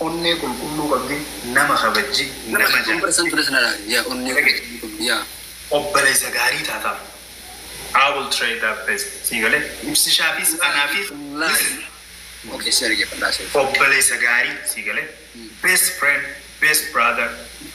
Onnee qulqulluu qabdi nama kabajji nama jaalatti. Obboleessa gaarii taataaf. I will try that best sii galee? Ibsishaafis anaafis listen. Obboleessa gaarii sii galee? Best friend, best brother.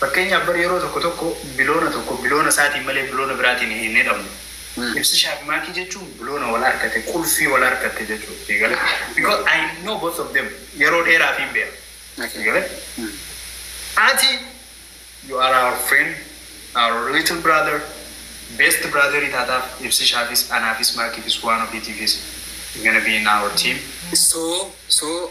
Fakkeenyaaf bar yeroo tokko tokko biloona tokko biloona isaatiin malee biloona biraatiin hin hidhamu. Ibsi Shaabimaakii jechuun biloona wal harkate, qulfii wal harkatte jechuudha. Sii galee? Because I know both of them. Yeroo dheeraafiin beeka. Sii Okay. galee? Ati you are our friend, our little brother, best brother taataaf ibsishaafis, anaafis, maakiifis, waan ofiitiifis you're gonna be in our team. So, so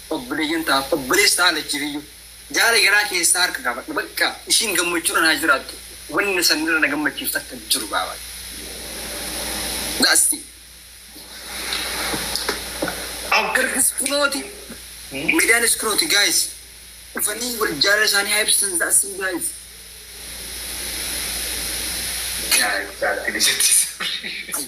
Obboleeyyan taaf obboleessi ta'a lachiifiyyu. Jaala garaa keessaa harka kaafadha bakka ishiin gammachuudhan haa jiraattu wanna san irra na gammachiisu takka hin jiru baaba That's it. Abgarris kunooti Medaanis kunooti guys dhufanii wal jaalala isaanii haa ibsatan That's it guys. Yaa Rabbi jaartii na jechisiisi.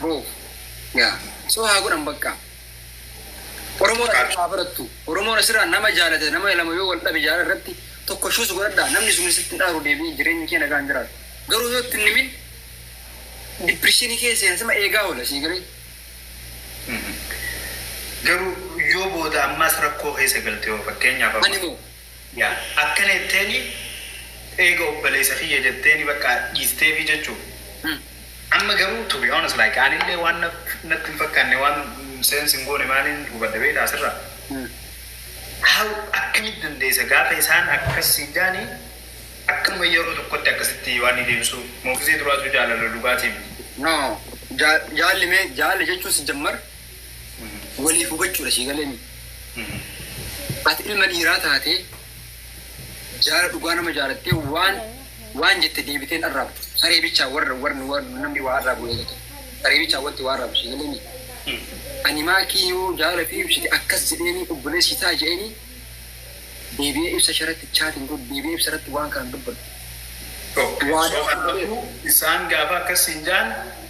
Bro yaa so haa godhan baqqaa. Oromoon asirraa haa barattu. Oromoon asirraa nama jaalate nama lama yoo wal dhabe jaalala irratti tokko shuus godhadhaa namni sun sitti hin aaru deebi'ee jireenya kee nagaan jiraatu. Garuu yoo itti hin himin dipirishinii kee seensima eegaa oola sii galee. Garuu yoo booda ammaas rakkoo keessa galte hoo fakkeenyaaf Ani amma. moo Yaa akkana jetteeni eega obbaleesa kiyya jetteeni bakka dhiisteefi jechu amma garuu to be honest like anillee waan natti hin fakkaanne waan sense hin goone maaliin hubadhe beektaa sirra how akkamitti dandeessa gaafa isaan akkas siin jaani akkanuma yeroo tokkotti akkasitti waan ni deebisuu moogizee duraatu jaalala dhugaatii miti. No, ja- jaalli mee jaalli jechuun si jammar waliif hubachuudha sii galemi. Ati ilma dhiiraa taatee jaala dhugaa nama jaalattee waan waan jette deebiteen arraabu. Saree bichaa warra warra warra namni waa arraabu eegatu. Saree bichaa wanti waa arraabu sii galemi. Ani maakii yoo jaala fi ibsite akkas jedheeni obboleessi ta'a jedheeni deebi'ee ibsa sharatti chaatiin godhu deebi'ee ibsa irratti waan kana dubbatu. Waadaa Soofatu isaan gaafa akkas hin jaan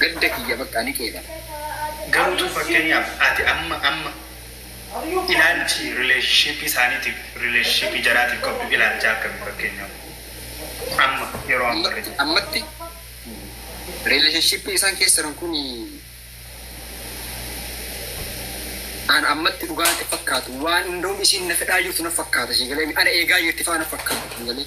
Gadda kiyya bakka ni qeebala. Garuu tun fakkeenyaaf ati amma amma ilaalchi relationship isaaniitiif relationship jaraatiif qabdu ilaalchaa akkami fakkeenyaaf amma yeroo amma irra jirtu. Ammatti relationship isaan keessa jiran kun an ammatti dhugaa natti fakkaatu waan hundoom isiin na fedhaa jirtu na fakkaata si galee ana eegaa jirti faa na fakkaata galee.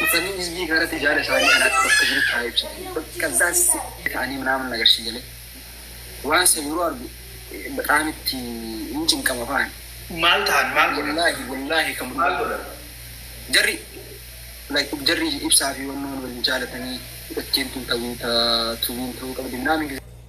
Dhufanii hizbii kanarratti jaala isaanii kan akka bakka jirutti haa ibsatan. Bakka addaan sitti ta'anii minaaman nagarsiisu jedhee. Waan san yeroo argu bexaam itti hin cinqama fa'an. Maal ta'an maal godhan? Wallaahi wallaahi kan Maal godhan? Jarri like jarri ibsaa fi wannoon wal jaalatanii ittiin tun tawiitaa tuwiin ta'uu qabdi minaamin gizee.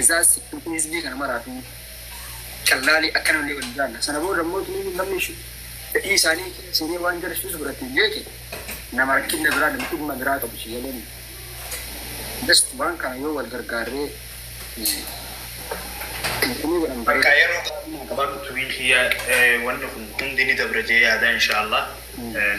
Isaas hizbii kana maraatuu callaalee akkanallee wal jaalla. Sana booda immoo tunii namni fedhii isaanii seenee waan jara suusu godhatee beeke nama rakkinna biraa nama dhimma biraa qabu si jedhani. Just waan kana yoo wal gargaarree tunii godhan Bakka bareeda. yeroo qabu qaban tumiin kiyya eh, wanni kun hundi ni dabra jee yaada inshaallah. Eh,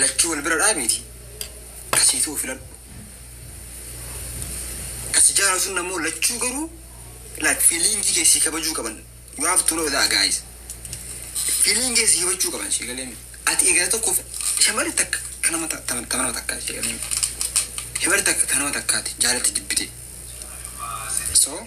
Lachuu wal bira dhaabiiti ka sii ta'u filadhu. Ka si jaalatuun ammoo lachuu garuu like feeling kee sii kabajuu qaban. You have to know that guys. Feeling kee sii kabachuu qaban sii galee mi. Ati eegala tokkoof shamarri takka ta nama ta- ta- ta nama takkaa sii galee mi. Shamarri takka ta nama takkaati jaalatti jibbite. So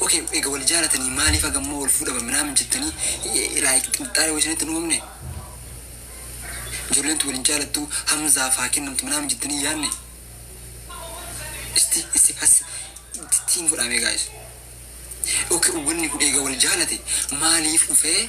Ok ega wal jaalatanii maalif haga ammaa wal fuudhama minaamin jettanii like xinxaala wayii isinitti hin uumamne? Ijoolleen tun wal hin jaalattu Hamzaaf haa kennamtu minaamin jettanii hin yaanne? Isti issi hassi itti hin godhaamee guys. Ok wanni kun eega wal jaalate maaliif dhufee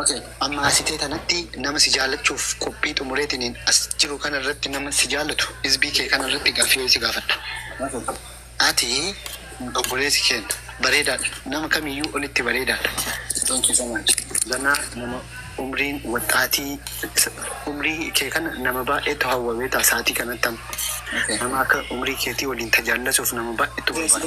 Ok amma asi tee tanatti nama si jaallachuuf qophii xumureetiniin as jiru kana irratti nama si jaallatu izbii kee kana irratti gaaffii wayii si gaafadha ati obboleessi keenna bareedaadha nama kamiiyyuu olitti bareedaadha thank you so much ganaa nama umriin waxxaatii umrii kee kana nama baay'eetu hawwa beektaa sa'atii kanatti amma nama akka umrii keetii waliin tajaallasuuf nama baay'eetu barbaada.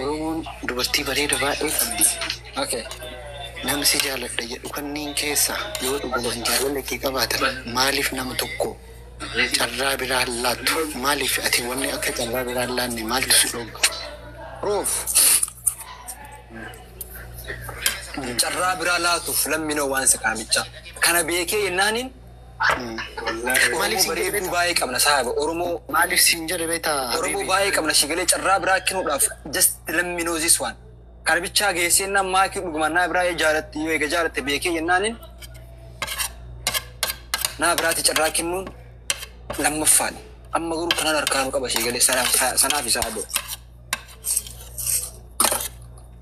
Oromoon dubartii bareeda baay'ee qabdi ok Nama si jaaladha jedhu kanniin keessa yoo dhugumaan jaalala kee qabaatan maaliif nama tokko carraa biraa hin laattu maaliif ati wanni akka carraa biraa hin laanne maaltu si dhoogga Roof carraa biraa laatuuf lammino waan sakaamichaa kana beekee jennaaniin Maaliif siin jedhe beektaa? baay'ee qabna saaba Oromoo Maaliif siin jedhe beektaa? Oromoo Habiibi? baay'ee qabna si galee carraa biraa kennuudhaaf just let me know this one. Kana bichaa geessee jennaan maakii dhugumaan naa biraa jaalatte yoo eega jaalatte beekee jennaanin naa biraatti carraa kennuun lammaffaadha. Amma garuu kanan harkaanuu qaba si galee sanaaf sanaaf isaa boo.